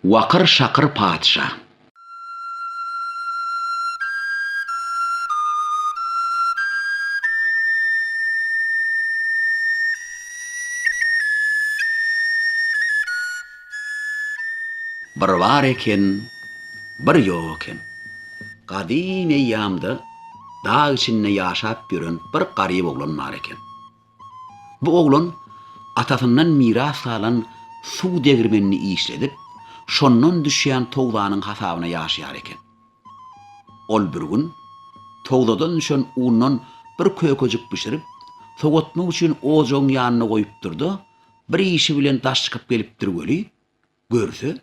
Wakyr şakyr patyşa. Bir bar eken, bir ýok eken. Gadym eýýamda dag içinde ýaşap ýören bir garyp oglan bar eken. Bu oglan atasyndan miras galan suw degirmenini işledip, şondan düşýän towzanyň hasabyna ýaşaýar eken. Ol bir gün towzadan düşen undan bir kökejik bişirip, sowatmak üçin ojagyň ýanynda goýupdyr-da, bir işi bilen daş çykyp gelipdir weli, görse,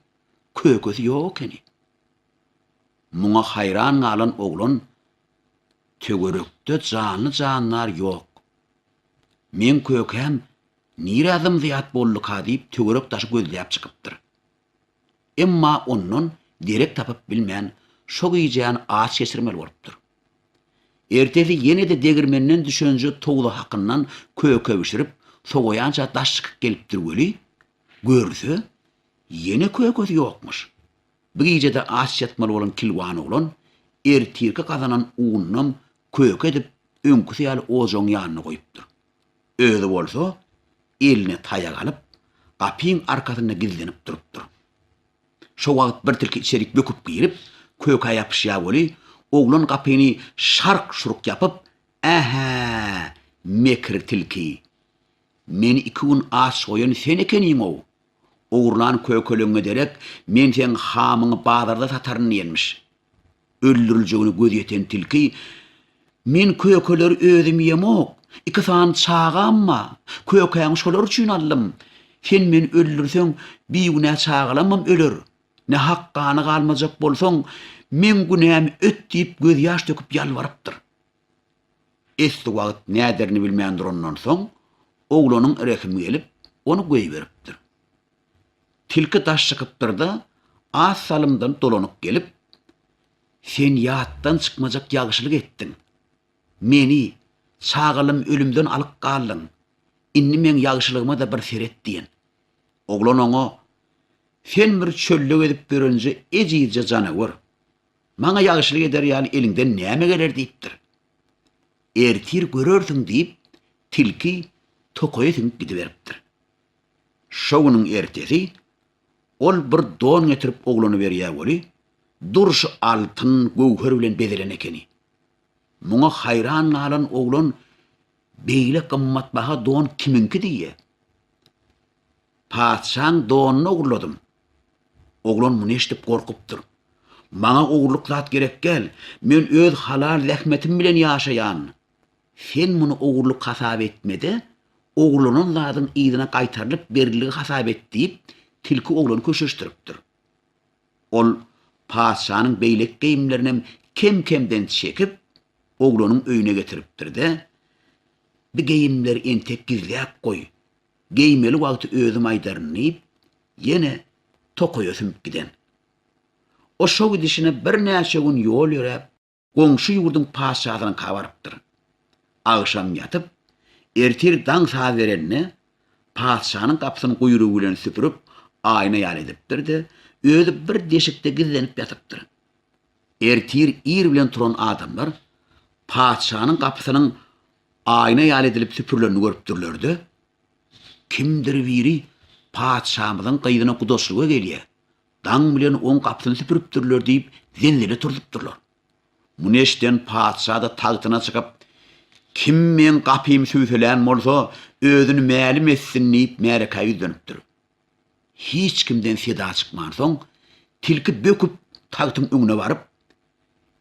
kökesi ýok ekeni. Muňa haýran galan oglan Töwerekde janly-jandar ýok. Meň kökäm nirä zym-zyýat bolduka diýip töwerek daşy gözläp çykypdyr. Emma ondan derek tapyp bilmän, şo gijäni aç geçirmeli bolupdyr. Ertesi ýene-de degirmenden düşenje towla hakyndan köke bişirip, sowaýança daş çykyp gelipdir weli, görse, ýene kökesi ýokmyş. Bir gijede aç ýatmaly bolan kilwan oglan ertirki gazanan unnam köke edip, öňküsi ýaly ojagyň ýanynda goýupdyr. Özi bolsa, eline taýak alyp, gapyň arkasynda gizlenip durupdyr. Şo wagt bir tilki içerik böküp girip, köke ýapyşýar weli, oglan gapyny şark-şurk ýapyp, Ä-hä, mekir tilki! Meni iki gün aç goýan sen ekeniň-ow! Ogurlan kökeleňňe derek, men seň hamyňy bazarda sataryn diýenmiş. Öldüriljegine göz ýeten tilki, Men kökeleri özüm ýemok, iki sany çagam ba, kökäňi şolar üçin aldym. Sen meni öldürseň, bigünä çagalamam öler. Nähak gany galmajak bolsaň, meň günämi öt diýip gözýaş döküp ýalbarypdyr. Esli wagt näderini bilmän durandan soň, oglanyň rehimi gelip, ony goýberipdir. Tilki daş çykypdyr-da, az salymdan dolanyp gelip, Sen ýatdan çykmajak ýagşylyk etdiň. Meni, çagalym ölümden alyp galdyň. Indi meň ýagşylygyma-da bir seret diýen. Oglan oňa, Sen bir çölde gezip ýörenje ejizje janawar. Maňa ýagşylyk eder ýaly eliňden näme geler diýipdir. Ertir görersiň diýip, tilki tokaýa siňip gidiberipdir. Şo günüň ertesi ol bir don getirip oglana berýär weli, durşy altyn, göwher bilen bezelen ekeni. Muňa haýran galan oglan Beýle gymmatbaha don kimiňki diýýär. Patyşaň donyny ogurladym. Oglan muny eşidip gorkupdyr. Maňa ogurlyk zat gerek däl. Men öz halal zähmetim bilen ýaşaýan. Sen muny ogurlyk hasap etme-de, ogurlanan zadyň yzyna gaýtarylyp beriligi hasap et diýip, tilki oglany köşeşdiripdir. Ol patyşanyň beýleki geýimlerinem kem-kemden çekip, oglanyň öýüne getiripdir-de, Bi geýimleri entek gizläp goý, Geýmeli wagty özüm aýdaryn diýip, ýene tokaýa sümüp giden. O şo gidişine birnäçe gün ýol ýöräp, goňşy ýurduň patyşasynyňka barypdyr. Agşam ýatyp, ertir daň saz berende, patyşanyň gapysyny guýrugy bilen süpürip, aýna ýaly edipdir-de, özi bir deşikde gizlenip ýatypdyr. Ertir ir bilen turan adamlar patyşanyň gapysynyň aýna ýaly edilip süpürilenini görüpdirler-de, kimdir biri patyşamyzyň gyzyna gudaçlyga gelýär, daň bilen oň gapysyny süpüripdirler diýip, zelzele turzupdyrlar. Muny eşiden patyşa-da tagtyna çykyp, Kim meň gapymy süwselän bolsa, özüni mälim etsin diýip, märekä ýüzlenipdir. Hiç kimden seda çykmansoň, tilki böküp tagtyň öňüne baryp,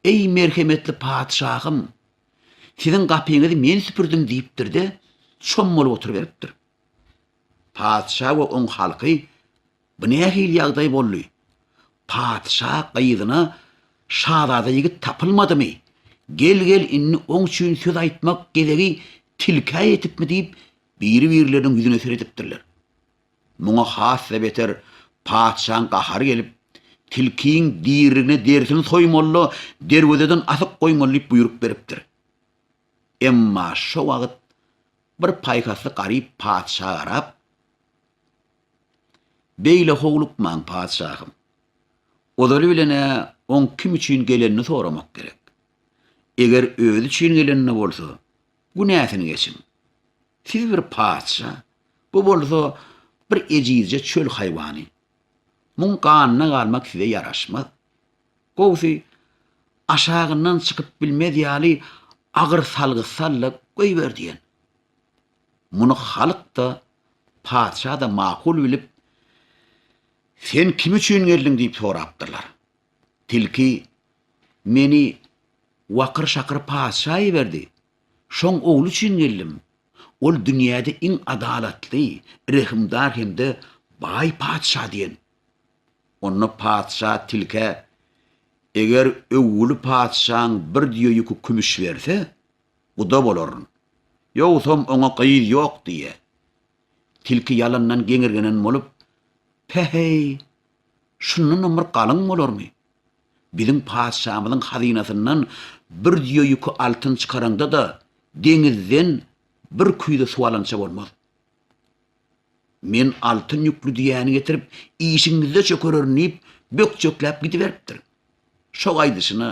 Eý, merhemetli patyşahym, siziň gapyňyzy men süpürdim diýipdir-de, çom bolup oturyberipdir. Patyşa we oň halky, Bu nähili ýagdaý boldy? Patyşa gyzyna şazada ýigit tapylmadymy? Gel-gel, indi oň üçin söz aýtmak gezegi tilkä ýetipmi diýip, Biri-birleriniň ýüzüne seredipdirler. Muňa has-da beter patyşaň gahary gelip, Tilkiň diriligine derisini soýmaly-da, derwezeden asyp goýmaly diýip buýruk beripdir. Emma şo wagt bir paýhasly garyp patyşa garap, Beýle howlukmaň, patyşahym. Ozaly bilen-ä oň kim üçin gelenini soramak gerek. Eger özi üçin gelenini bolsa, Günäsini geçiň. Siz bir patyşa, bu bolsa bir ejizje çöl haýwany. Muň ganyna galmak size ýaraşmaz. Gowusy, aşagyndan çykyp bilmez ýaly agyr salgy sal-da goýber diýen. Muny halk-da, patyşa-da makul bilip, Sen kim üçin geldiň diýip sorapdyrlar. Tilki, Meni Wakyr-şakyr patyşa iberdi. Şoň ogly üçin geldim. Ol dünýäde iň adalatly, rehimdar hem-de baý patyşa diýen. Onda patyşa tilkä, Eger öwgüli patyşaň bir düýe ýüki kümüş berse, guda bolaryn. Ýogsam oňa gyz ýok diýýär. Tilki ýalandan geňirgenen bolup, Pe-heý! Şundanam bir galyň bolarmy? Biziň patyşamyzyň hazynasyndan bir düýe ýüki altyn çykaraňda-da, deňizden bir küýze suw alança bolmaz. Men altyn ýükli düýäni getirip, işiňizde çökererin diýip, bökjekläp gidiberipdir. Şo gaýdyşyna,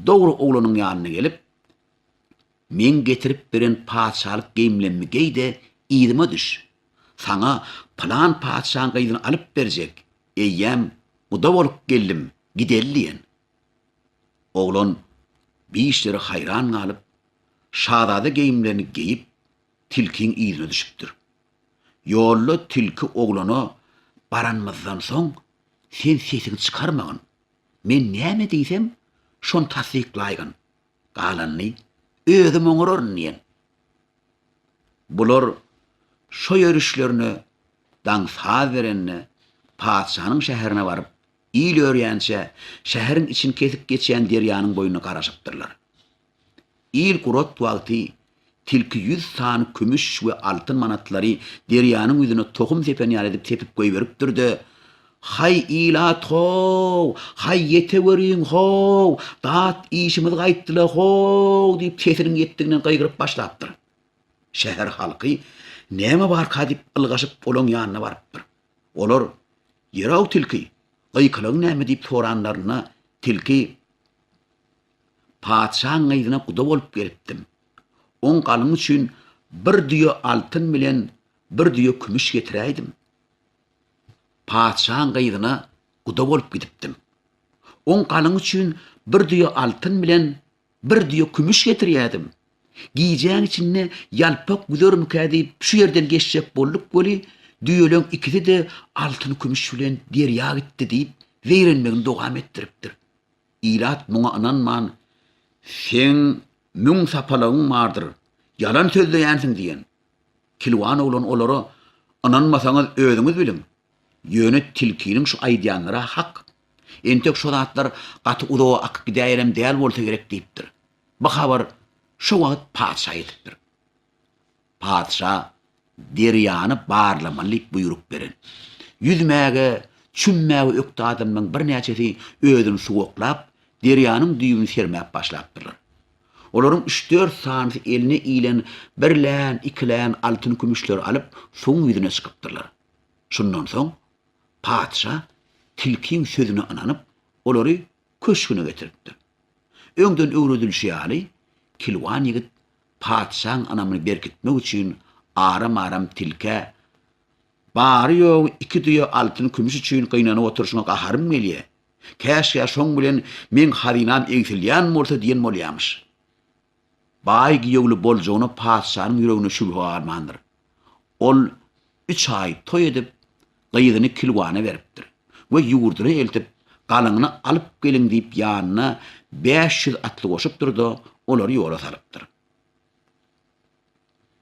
dogry oglanyň ýanyna gelip, Meň getirip beren patyşalyk geýimlemmi geý-de, yzyma düş. Saňa pylan patyşaň gyzyny alyp berjek, eýýäm guda bolup geldim, gideli diýen. Oglan bişleri haýran galyp, şazada geýimlerini geýip, tilkiň yzyna düşüpdir. Ýolda tilki oglana Baranymyzdan soň, sen sesiňi çykarmagyn. Men näme diýsem, şony tassyklaýgyn. Galanyny özüm oňararyn diýen. Bular şo ýörüşlerine daň saz berende, patyşanyň şäherine baryp, il örýänçä şäheriň içini kesip geçýän derýanyň boýuna garaşypdyrlar. Il gurat wagty Tilki ýüz sany kümüş we altyn manatlary derýanyň ýüzüne tohum sepen ýaly edip sepip goýberipdir-de, Haý, ilat-how! Haý, ýeteweriň-how! Dat işimiz gaýtdyla-how! diýip, sesiniň ýetdiginden gygyryp başlapdyr. Şäher halky, Näme barka diýip, ylgaşyp, olaň ýanyna barypdyr. Olar, Ýör-ow, tilki, gykylygyň näme diýip soranlarynda, tilki, Patyşaň gyzyna guda bolup gelipdim. Oň galyňy üçin bir düýe altyn bilen bir düýe kümüş getiräýdim. Patyşaň gyzyna guda bolup gidipdim. Oň galyňy üçin bir düýe altyn bilen bir düýe kümüş getirýädim. Gijäň içinde ýalpak güzermikä diýip şu ýerden geçjek bolduk weli, düýeleň ikisi-de altyn-kümüş bilen derýa gitdi diýip, zeýrenmegini dowam etdiripdir. Ilat muňa ynanman, Seň müň sapalagyň bardyr, ýalan sözleýänsiň diýen. Kilwan oglan olara, Ynanmasaňyz özüňiz biliň. Ýöne tilkiniň şu aýdýanlary-a hak. Entek şo zatlar gaty uzaga akyp gidäýenem däl bolsa gerek diýipdir. Bu habar şo wagt patyşa ýetipdir. Patyşa derýany barlamaly diýip buýruk beren. Ýüzmäge, çümmäge ökde adamlaryň birnäçesi özüni suwaklap, derýanyň düýbüni sermäp başlapdyrlar. Olaryň üç-dört sanysy eline ilen birlän, ikilän altyn-kümüşleri alyp, suwuň ýüzüne çykypdyrlar. Şundan soň patyşa tilkiň sözüne ynanyp, olary köşgüne getiripdir. Öňden öwredilişi ýaly, kilwan ýigit Patyşaň ynamyny berkitmek üçin aram-aram tilkä, Bary-ýogy iki düýe altyn-kümüş üçin gynanyp oturyşyňa gaharym gelýär. Käşgä şoň bilen meň hazynam egsilýän bolsa diýen bolýarmyş. Baý giýewli boljagyna patyşanyň ýüreginde şübhe galmandyr. Ol Üç aý toý edip, gyzyny Kilwana beripdir we ýurduna eltip, galyňyny alyp geliň diýip ýanyna bäş ýüz atly goşupdyr-da, olary ýola salypdyr.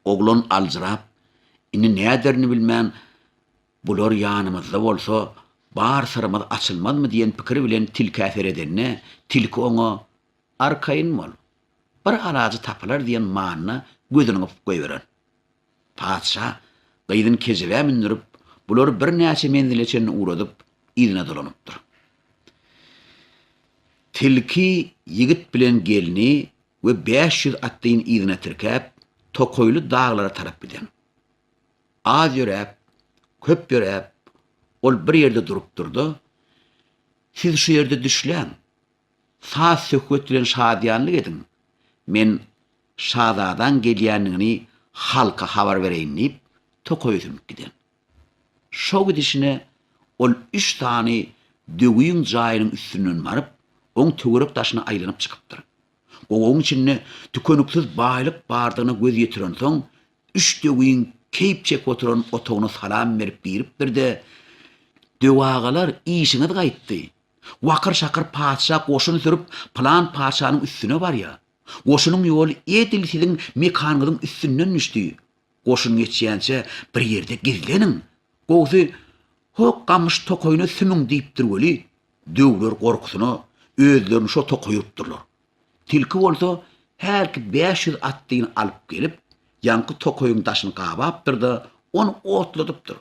Oglan aljyrap, indi näderini bilmän, Bular ýanymyzda bolsa, bar syrymyz açylmazmy diýen pikir bilen tilkä seredende, tilki oňa, Arkaýyn bol. Bir alajy tapylar diýen manyda gözüni gypyp goýberen. Patyşa gyzyny kejebä mündürip, bulary birnäçe menzile çenli ugradyp, yzyna dolanypdyr. Tilki ýigit bilen gelni we bäş ýüz atlyny yzyna tirkäp, tokaýly daglara tarap giden. Az ýöräp, köp ýöräp, ol bir ýerde durupdyr-da, Siz şu ýerde düşläň. Saz-söhbet bilen şadyýanlyk ediň, men şazadaň gelýändigini halka habar bereýin diýip, tokaýa sümüp giden. Şo gidişine ol üç sany döwüň jaýynyň üstünden baryp, oň töwerek daşyna aýlanyp çykypdyr. Gowagyň içinde tükeniksiz baýlyk bardygyna göz ýetirensoň, üç döwüň keýp çekip oturan otagyna salam berip giripdir-de, Döwagalar, işiňiz gaýtdy, Wakyr-şakyr patyşa goşun sürüp, pylan patyşanyň üstüne barýar. Goşunyň ýoly edil siziň mekanyňyzyň üstünden düşdi. Goşun geçýänçä bir ýerde gizleniň. Gowusy, Hok gamyş tokaýyna sümüň diýipdir weli, döwler gorkusyna özlerini şo tokaýa urupdyrlar. Tilki bolsa hälki bäş ýüz atlyny alyp gelip, ýaňky tokaýyň daşyny gabapdyr-da, ony otladypdyr.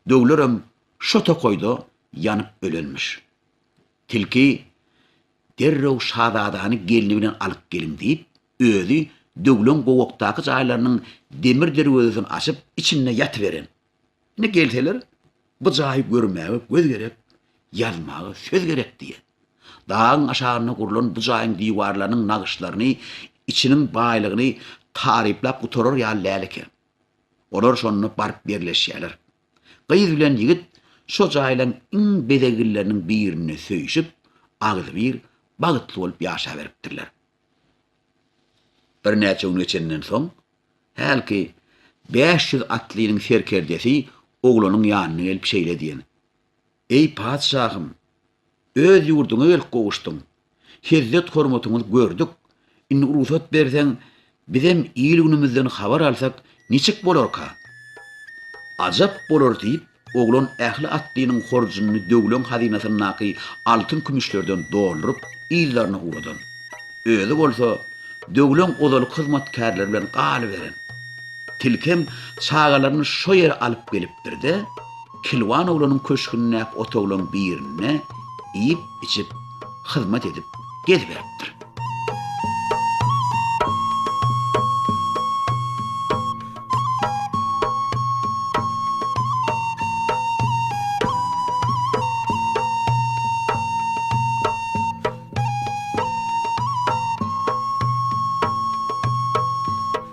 Döwlerem şo tokaýda ýanyp ölenmiş. Tilki, Derrew şazadany gelni bilen alyp geliň diýip, özi Döwleň gowakdaky jaýlarynyň demir derwezesini açyp, içinde ýatyberen. Ine gelseler, bu jaýy görmäge göz gerek, ýazmaga söz gerek diýýär. Dagyň aşagynda gurlan bu jaýyň diwarlarynyň nagyşlaryny, içiniň baýlygyny taryplap gutarar ýaly däl eken. Olar şonda baryp ýerleşýärler. Gyz bilen ýigit şo jaýlaryň iň bezegilleriniň birinde söýşüp, agzybir bagtly bolup ýaşaberipdirler. Birnäçe gün geçenden soň, hälki bäş ýüz atlynyň serkerdesi oglanyň ýanyna gelip şeýle diýen, Eý, patyşahym, Öz ýurduňa gelip gowuşdyň. Hezzet-hormatyňyzy gördük. Indi rugsat berseň, bizem il-günümizden habar alsak, niçik bolarka? Ajap bolar, diýip, oglan ähli atlynyň horjunyny döwleň hazynasyndaky altyn-kümüşlerden dolduryp, yzlaryna ugradan. Özi bolsa, döwleň ozalky hyzmatkärleri bilen galyberen. Tilkem çagalaryny şo ýere alyp gelipdir-de, Kilwan oglanyň köşgündäki otaglaryň birinde iýip-içip, hyzmat edip geziberipdir.